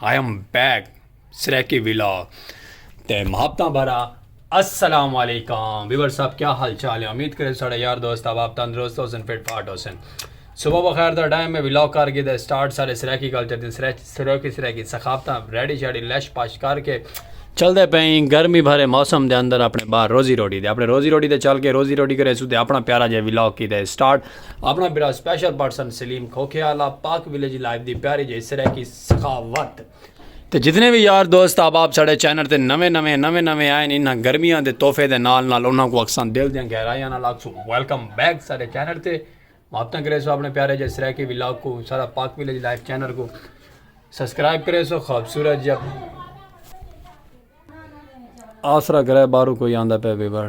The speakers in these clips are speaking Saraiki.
I am back Saraiki vlog تے محبتاں بھرا السلام علیکم ویور صاحب کیا حال چال ہے امید کرے ساڑے یار دوست اب آپ تندرست ہو سن فٹ فاٹ ہو سن صبح بخیر دا ڈائم میں ولاگ کر کے دے سٹارٹ سارے سریکی کلچر دن سریکی سریکی سخافتاں ریڈی شیڈی لیش پاش کر کے چل دے پہین گرمی بھرے موسم دے اندر اپنے باہر روزی روٹی دے اپنے روزی روٹی دے چل کے روزی روٹی کرے سو دے اپنا پیارا جے ولاگ کی دے سٹارٹ اپنا برا سپیشل پرسن سلیم کھوکھے آلا پاک ویلیج لائف دی پیاری جے سریکی سخاوت تے جتنے بھی یار دوست احباب ساڑے چینل تے نویں نویں نویں نویں آئے انہاں گرمیاں دے تحفے دے نال نال انہاں کو اکساں دل دیاں گہرائیاں نال اکسو ویلکم بیک ساڑے چینل تے مابتاں کرے سو اپنے پیارے جے سریکی ولاگ کو سارا پاک ویلج لائف چینل کو سبسکرائب کرے سو خوبصورت جب آسرا کرے بارو کوئی آندہ پہ بیبر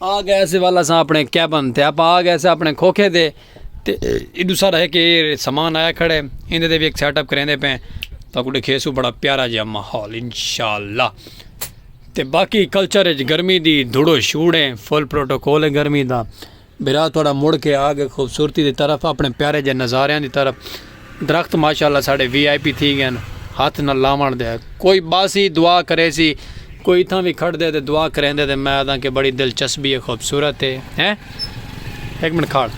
آ گئے اسے ول اساں اپنے کیبن تے اپاں آ گئے سے اپنے کھوکھے دے تے ایڈو سارا ہک ایر سامان آیا کھڑے ایندے دے بھی ایک سیٹ اپ کریندے پے تا کو ڈکھے سو بڑا پیارا جیا ماحول انشاءاللہ تے باقی کلچر اچ گرمی دی دھڑو شوڑے فل پروٹوکول ہے گرمی دا برا تھوڑا مڑ کے آ گئے خوبصورتی دی طرف اپنے پیارے جے نظاریاں دی طرف درخت ماشاءاللہ ساڈے وی آئی پی تھی گئن ہتھ نہ لاونڑ دے کوئی باسی دعا کریسی کوئی اتھاں وی کھڑدے تے دعا کریندے تے میں آدھاں کہ بڑی دلچسبی ہے خوبصورت ہے ہیں ہک منٹ کھڑ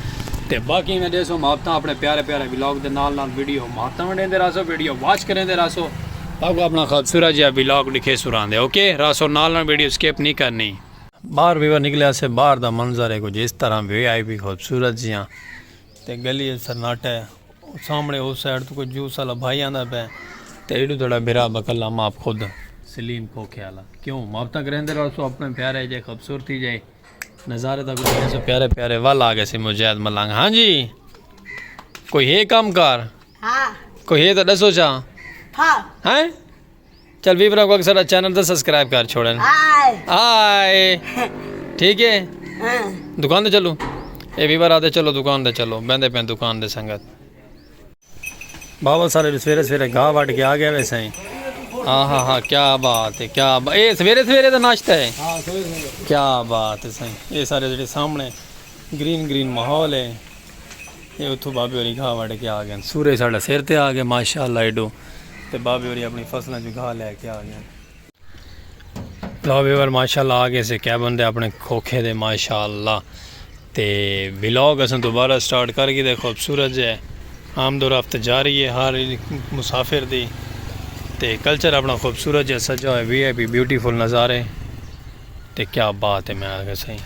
تے باقی میں ڈیسو محبتاں اپنے پیارے پیارے ولاگ دے نال نال ویڈیو محبتاں ونڈیندے رہسو ویڈیو واچ کریندے رہسو تاکو اپنا خوبصورت جیا ولاگ ڈکھے سراندے اوکے رہسو نال نال ویڈیو سکپ نہیں کرنی۔ باہر ویور نکلیا سے باہر دا منظر ہے کچھ اس طرح وی آئی پی خوبصورت جیاں تے گلی اچ سناٹا ہے۔ او سامنڑے او سائیڈ توں کوئی جوس آلا بھائی آندا پئے تے ایڈو تیڈا بھرا بکلا ماپ خود۔ سلیم کھوکھے آلا کیوں ماپ تک رہندے رہسو اپنڑے پیارے جئے خبصورتی جئے نظارے تک رہندے رہسو پیارے پیارے ول آ گئیسی مجاہد ملنگ ہاں جی کوئی ہے کم کار ہاں کوئی ہے تاں ڈسو چا ہاں ہیں۔ چل وی بنا کو اکثر چینل تے سبسکرائب کر چھوڑن آئے ٹھیک ہے دکان دے چلو اے وی بارا دے چلو دکان دے چلو بیندے پین دکان دے سنگت باول سارے سویرے سویرے گاہ وٹ کے آ گیا وے سائیں ہاں ہاں ہاں کیا بات ہے کیا بات اے سویرے سویرے دا ناشتہ ہے ہاں، کیا بات ہے سائیں اے سارے جڑے سامنے گرین گرین ماحول ہے یہ اتھو بابے ہوری گھا وڈ کے آ گئے سورج ساڑا سر تے آ گئے ماشاءاللہ ایڈو تے بابے ہوری اپنی فصلاں جو گھا لے کے آ گئے بابے ور ماشاءاللہ آ گئے سے کیبن دے اپنے کھوکھے دے ماشاءاللہ تے ولاگ اساں دوبارہ سٹارٹ کر گئے دے خوبصورت جے آمد و رفت جاری ہے ہر مسافر دی تے کلچر اپنا خوبصورت جے سجا ہوئے وی آئی پی بیوٹیفل نظارے تے کیا بات ہے میں آگے سائیں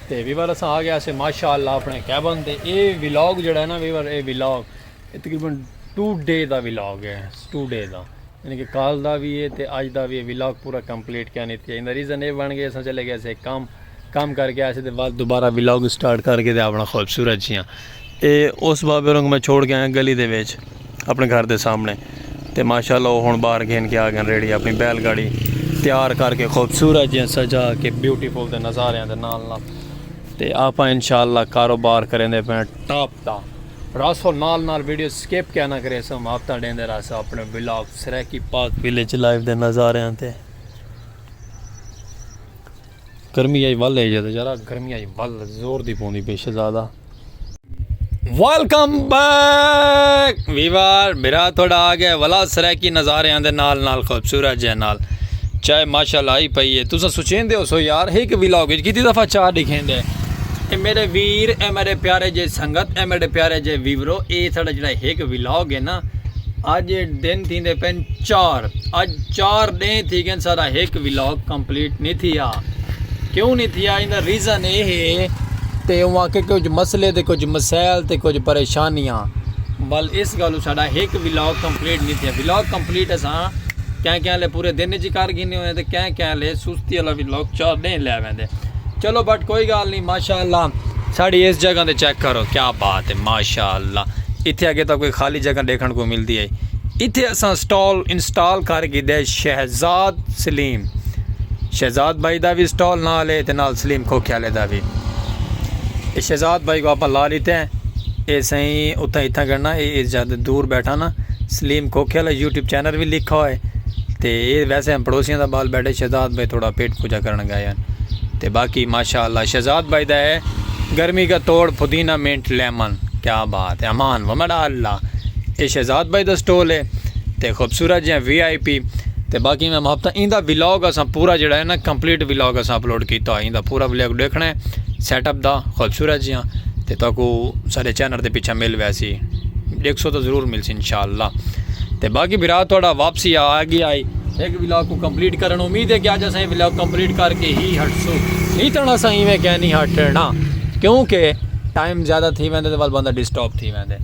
تے ویور اساں آ گیا سے ماشاءاللہ اپنے کیبن تے اے ویلاگ جڑا ہے نا ویور اے ویلاگ اے تقریبا 2 ڈے دا ویلاگ ہے 2 ڈے دا یعنی کہ کال دا بھی ہے تے اج دا بھی ہے ویلاگ پورا کمپلیٹ کیا نہیں تھی ایندا ریزن اے بن گیا اساں چلے گئے سے کام کام کر کے آئے سے تے بعد دوبارہ ویلاگ سٹارٹ کر کے تے اپنا خوبصورت جیاں تے اس بابے رنگ میں چھوڑ کے آیا گلی دے وچ اپنے گھر دے سامنے تے ماشاء اللہ وہ ہوں باہر گھن کے آ گئے ریڑی اپنی بیل گاڑی تیار کر کے خوبصورت جی سجا کے بیوٹیفل دے نظارے دے نال نال تے آپ ان شاء اللہ کاروبار کریں دے پہ ٹاپ دا راسو نال نال ویڈیو سکپ کیا نہ کرے سو ہفتہ ڈیں دے راسو اپنے blog Saraiki Pak village life دے نظارے تے گرمی آئی ول ہے جدا یارا گرمی آئی ول زور دی پوندی بے شہزادہ ویلکم بیک ویوار میرا تھوڑا آ گیا ولا سرائیکی نظارے آندے نال نال خوبصورت جے نال چائے ماشاءاللہ آئی پئی ہے تسا سوچیں دے ہو سو یار ایک ویلاگ وچ کیتی دفعہ چار دکھیں دے اے میرے ویر اے میرے پیارے جے سنگت اے میرے پیارے جے ویورو اے ساڈا جڑا ایک ویلاگ ہے نا اج دن تھیندے پن چار اج چار ڈینہہ تھی گئن ساڈا ہک ولاگ کمپلیٹ نہیں تھیا کیوں نہیں تھیا ایندا ریزن اے ہے تے اوہاں کے کچھ مسئلے تے کچھ مسائل تے کچھ پریشانیاں بل اس گالو ساڈا ہک ولاگ کمپلیٹ نہیں تھیا ولاگ کمپلیٹ اساں کہیں کہیں لے پورے دن جی کر گھنے ہوئے تے کہیں کہیں لے سستی والا ولاگ چار ڈینہہ لے ویندے چلو بٹ کوئی گال نہیں ماشاءاللہ ساڈی اس جگہ تے چیک کرو کیا بات ہے ماشاءاللہ اتھے اگے تا کوئی خالی جگہ دیکھن کو ملدی ہے اتھے اساں سٹال انسٹال کر گھدے شہزاد سلیم شہزاد بھائی دا وی سٹال نال ہے تے نال سلیم کھوکھے والے دا وی اے شہزاد بھائی کو اپاں لا لیتے ہیں اے سائیں اتھاں اتھاں گڑنا اے اے جد دور بیٹھا نا سلیم کھوکھے والا یوٹیوب چینل وی لکھا ہوئے تے اے ویسے ہم پڑوسیاں دا بال بیٹھے شہزاد بھائی تھوڑا پیٹ پوجا کرن گئے ہیں تے باقی ماشاءاللہ شہزاد بھائی دا ہے گرمی کا توڑ پودینہ منٹ لیمن کیا بات ہے امان ومڑا اللہ اے شہزاد بھائی دا سٹول ہے تے خوبصورت جیاں وی آئی پی تے باقی میں محبتاں ایں دا ولاگ اساں پورا جیڑا ہے نا کمپلیٹ ولاگ اساں اپلوڈ کیتا ہوئے ایں دا پورا ولاگ ڈیکھنا ہے سیٹ اپ دا خوبصورت جیاں تے تو کو سارے چینل دے پیچھا مل ویسی ڈیکھ سو تو ضرور مل سی انشاءاللہ تے باقی بھرا تھوڑا واپسی آ گیا آئی ایک ولاگ کو کمپلیٹ کرن امید ہے کہ آج اساں ولاگ کمپلیٹ کر کے ہی ہٹ سو نہیں تھا اساں ایویں کہہ نہیں ہٹنا کیونکہ ٹائم زیادہ تھی ویندے تے وال بندہ ڈسٹرب تھی ویندے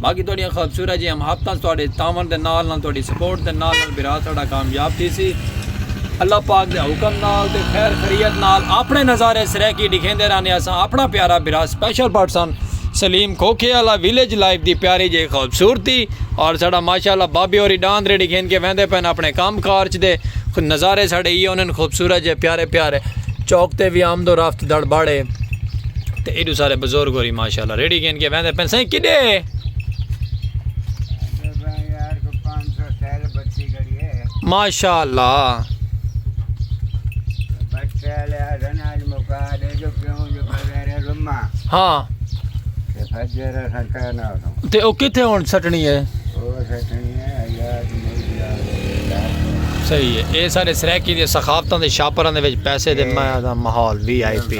باقی تہاڈیاں خوبصورت جیاں محبتاں تہاڈے تعاون دے نال نال تہاڈی سپورٹ دے نال نال برا ساڈا کامیاب تھی سی اللہ پاک دے حکم نال تے خیر خریت نال اپنے نظارے سرائیکی ڈکھیندے رہنے اساں اپنا پیارا برا سپیشل پرسن سلیم کھوکھے والا ویلیج لائف دی پیاری جے خوبصورتی اور ساڈا ماشاءاللہ بابے ہوری ڈاند ریڈی گھن کے ویندے پن اپنے کام کارج دے نظارے ساڈے یہ انہن خوبصورت جے پیارے پیارے چوک تے وی آمد و رفت دڑباڑے۔ تے ایڈو سارے بزرگ ہوری ماشاءاللہ ریڑھی گھن کے ویندے پن سائیں کڈے ماشاءاللہ ہاں تے او کتھے ہن سٹنی ہے صحیح ہے اے سارے سرائیکی دی ثقافتاں دے شاپراں دے وچ پیسے دے ماحول V I P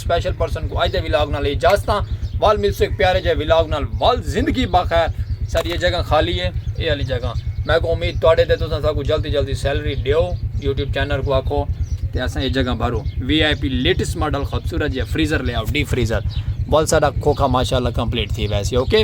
special person کو اج دے ولاگ نال اجازتاں وال ملسو ایک پیارے جے ولاگ نال وال زندگی باخیر ساری یہ جگہ خالی ہے اے والی جگہ میں کو امید تواڈے تے تساں ساکو جلدی جلدی سیلری دیو یوٹیوب چینل کو آکھو تے اساں یہ جگہ بھرو V I P latest model خوبصورت جے فریزر لے آؤ ڈی فریزر وال ساڈا کھوکھا ماشاءاللہ کمپلیٹ تھی ویسے اوکے